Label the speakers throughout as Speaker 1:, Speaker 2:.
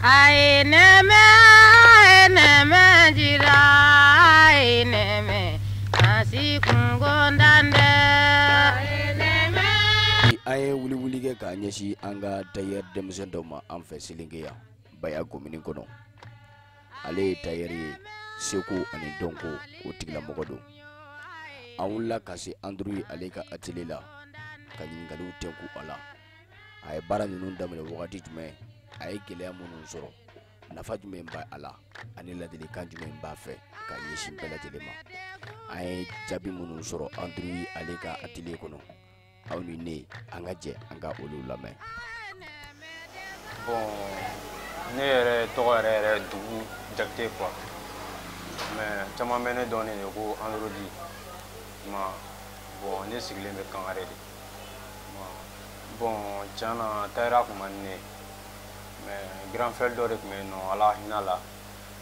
Speaker 1: Aye neme, aye neme jira, aye neme asi kungo ndande. Aye neme. An ye
Speaker 2: wuliwuli kɛ k'a ɲɛsin an ka tailleur denmisɛn dɔ ma an fɛ Selinge yan Baya komini kɔnɔ ale ye tailleur ye seko ani dɔnko o tigilamɔgɔ don an wulila ka se Android ale ka atelier la ka ɲininkaliw tɛnku a la. a ye baara ninnu daminɛ wagati jumɛn a ye gɛlɛya minnu sɔrɔ nafa jumɛn b'a la ani ladilikan jumɛn b'a fɛ ka ɲɛsin bɛɛ lajɛlen ma an ye jaabi minnu sɔrɔ Android ale ka atelier kɔnɔ aw ni ne an ka jɛ an ka olu
Speaker 3: lamɛn bon ne yɛrɛ tɔgɔ yɛrɛ yɛrɛ dugu jakite quoi mais caman bɛ ne dɔn ne de ko androdi ma bon ne sigilen bɛ kangare de bon tiɲɛ na tailleurya tun man di ne ye mais grand frère dɔ de tun bɛ yen nɔ ala hin'a la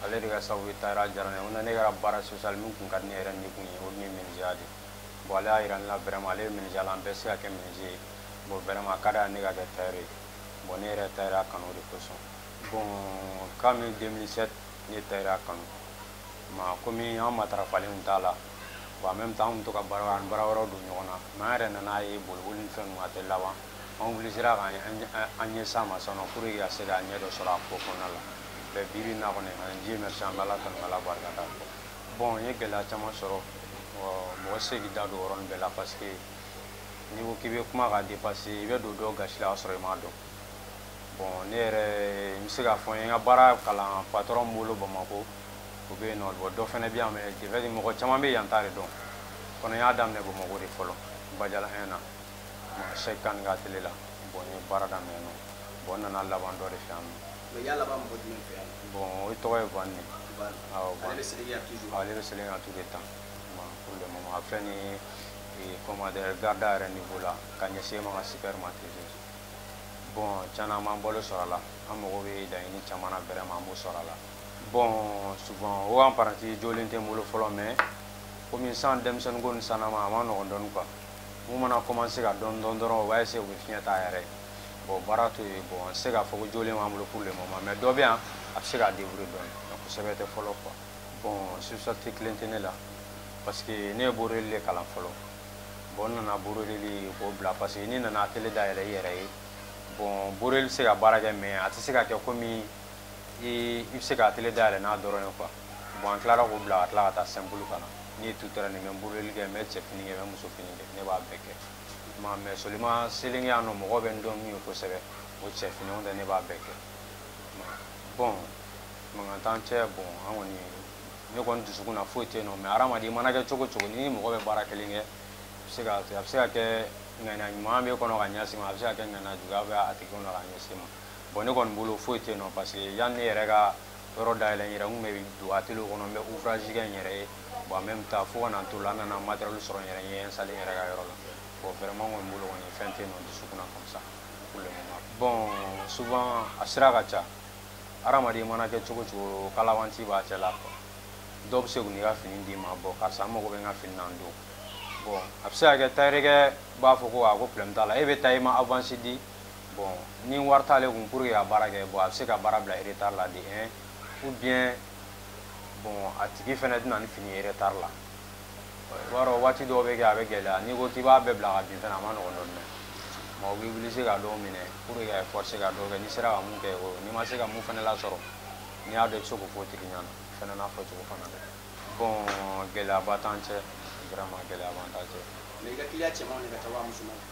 Speaker 3: ale de ka sababu ye tailleurya diyara ne ye o na ne kɛra baara sosiyali min tun ka di ne yɛrɛ ni kun ye o tun ye menuisierya de bon ale y'a jira ne la vraiment ale ye menuisierya la an bɛɛ se ka kɛ menuisier ye bon vraiment a ka d'a ye ne ka kɛ tailleur ye bon ne yɛrɛ tailleurya kanu de kosɔn bon kami 2007 ne tailleurya kanu mais komi an matarafalen t'a la bon en même temps an tun bɛ to ka baara an baara wɛrɛw don ɲɔgɔn na mais an yɛrɛ nan'a ye boliboli ni fɛn ninnu a tɛ laban an obligé k'an an ɲɛsin a ma sisan nɔ pour que ka se ka ɲɛ dɔ sɔrɔ a ko kɔnɔna la mais bi bi in na kɔni an Dieu merci an bɛ Ala tanu k'Ala barikada bon n ye gɛlɛya caman sɔrɔ mɔgɔ tɛ se k'i da don o yɔrɔnin bɛɛ la parce que n'i ko k'i bɛ kuma ka dépasser i bɛ don dɔw gasi la k'a sɔrɔ i m'a dɔn bon ne yɛrɛ n bɛ se k'a fɔ n ye n ka baara kalan patron min bolo Bamakɔ o bɛ yen nɔ bon dɔ fana bɛ yan mais de fait mɔgɔ caman bɛ yan ta de dɔn kɔni n y'a daminɛ bamakɔ de fɔlɔ Badialan 1 na Cheick Kane ka atelier la bon n ye baara daminɛ yen nɔ bon n nana laban dɔ de fɛ yan nɔ
Speaker 2: bon o tɔgɔ ye
Speaker 3: van
Speaker 2: ne ale bɛ Selinge tout le
Speaker 3: temps pour le moment a filɛ ni eh, comment dire garda yɛrɛ niveau la ka ɲɛsin ma ka super ma toujours bon tiɲɛna an b'an balo sɔrɔ a la an mago bɛ laɲini caman na vraiment an b'o sɔrɔ a la bon souvent o apprenti jɔlen tɛ n bolo fɔlɔ mais komi sisan denmisɛnninko ni sanama a ma nɔgɔn dɔɔni quoi min mana commencer ka dɔɔni dɔn dɔrɔn o b'a essayer u bɛ fiɲɛ ta a yɛrɛ ye bon baara to yen bon n tɛ se k'a fɔ ko jɔlen b'an bolo pour le moment mais dɔ bɛ yan a bɛ se k'a débrouiller dɔɔni mais kosɛbɛ tɛ fɔlɔ quoi bon spécialité kelen tɛ ne la parce que ne ye broderie de kalan fɔlɔ bon n nana broderie ko bila parce que n'i nana atelier dayɛlɛ i yɛrɛ ye bon broderie bɛ se ka baara kɛ mais a tɛ se ka kɛ komi i bɛ se ka atelier dayɛlɛ n'a dɔrɔn ye quoi bon an tilara k'o bila ka tila ka taa simple kalan ne ye tout-terrain ye n bɛ broderie kɛ n bɛ cɛfini kɛ n bɛ musofini kɛ ne b'a bɛɛ kɛ ma mais seulement Selinge yan nɔ mɔgɔ bɛ n dɔn min ye kosɛbɛ o cɛfini o tɛ ne b'a bɛɛ kɛ bon mankan t'an cɛ bon an kɔni ne kɔni dusukun na foyi tɛ yen nɔ mais hadamaden i mana kɛ cogo cogo ni mɔgɔ bɛ baara kelen kɛ a bɛ se ka kɛ ŋaniya ɲuman bɛ kɔnɔ ka ɲɛsin ma a bɛ se ka kɛ ŋaniya juguya bɛ a tigi kɔnɔ ka ɲɛsin ma bon ne kɔni bolo foyi tɛ yen nɔ parce que yanni ne yɛrɛ ka yɔrɔ dayɛlɛ n yɛrɛ n tun bɛ don atelier kɔnɔ n bɛ ouvrage kɛ n yɛrɛ ye bon en même temps fo ka na n t'o la n nana matériel sɔrɔ n yɛrɛ n ye installer n yɛrɛ ka yɔrɔ la bon vraiment n kɔni bolo kɔni fɛn tɛ yen nɔ dusukun na comme ça pour le moment bon souvent a sira ka ca hadamaden mana kɛ cogo cogo kalabanci b'a cɛ la quoi dɔw bɛ se k'u n'i ka fini d'i ma bon karisa n mago bɛ n ka fini na nin don bon a bɛ se ka kɛ tayɛrɛkɛ b'a fɔ ko a ko problème t'a la e bɛ taa i ma avance di Bon ni wari t'ale kun pour que ka baara kɛ bon a bɛ se ka baara bila retard la de un ou bien bon a tigi fana tɛna ni fini ye retard la i b'a dɔn waati dɔw bɛ kɛ a bɛ gɛlɛya n'i ko k'i b'a bɛɛ bila ka bin fana a ma nɔgɔn dɔɔni dɛ mais o b'i obliger ka dɔw minɛ pour que ka forcer ka dɔw kɛ n'i sera ka mun kɛ o n'i ma se ka mun fana lasɔrɔ n'i y'a dɔn i bɛ se k'o fɔ tigi ɲɛna fana n'a fɔcogo fana dɛ bon gɛlɛyaba t'an cɛ vraiment gɛlɛyaba t'an cɛ. Mais i ka client cɛmanw
Speaker 2: de ka ca wa musomanw?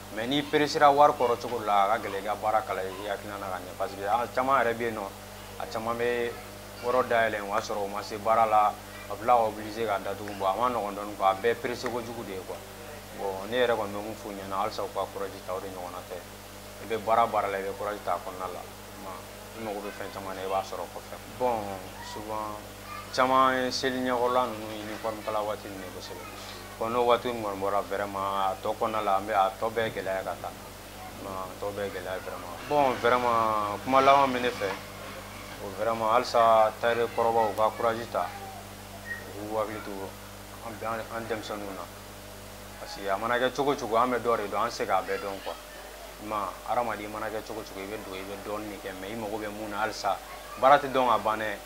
Speaker 3: mais n'i peresera wari kɔrɔ cogo de la a ka gɛlɛn i ka baara kalan i hakilina na ka ɲɛ parce que a caman yɛrɛ bɛ yen nɔ a caman bɛ yɔrɔ dayɛlɛ o y'a sɔrɔ o ma se baara la a bɛ tila ka obliger ka datugu bon a ma nɔgɔn dɔɔni quoi a bɛɛ perese kojugu de ye quoi bon ne yɛrɛ kɔni bɛ mun f'u ɲɛna halisa u ka courage ta o de ɲɔgɔnna tɛ i bɛ baara baara la i bɛ courage ta a kɔnɔna la i mago bɛ fɛn caman na i b'a sɔrɔ kɔfɛ bon souvent caman ye seli ɲɛkɔrɔla ninnu uniforme kala waati ninnu kosɛbɛ bon n'o waati ninnu kɔni bɔra vraiment a tɔ kɔnɔna la an bɛ a tɔ bɛɛ gɛlɛya ka taa a tɔ bɛɛ gɛlɛya vraiment bon vraiment kuma laban min ne fɛ o vraiment halisa tailleur kɔrɔbaw u ka courage ta u k'u hakili to an denmisɛnninw na parce que a mana kɛ cogo cogo an bɛ dɔ de dɔn an tɛ se k'a bɛɛ dɔn quoi ma hadamaden i mana kɛ cogo cogo i bɛ don i bɛ dɔɔnin de kɛ mais i mago bɛ mun na halisa baara tɛ dɔn ka ban dɛ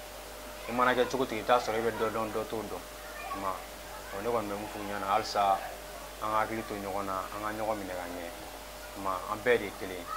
Speaker 3: i mana kɛ cogo cogo i bɛ t'a sɔrɔ i bɛ dɔ dɔn dɔ t'o dɔn ma ɔ ne kɔni bɛ mun f'u ɲɛna halisa an ka hakili to ɲɔgɔn na an ka ɲɔgɔn minɛ ka ɲɛ ma an bɛɛ de ye kelen ye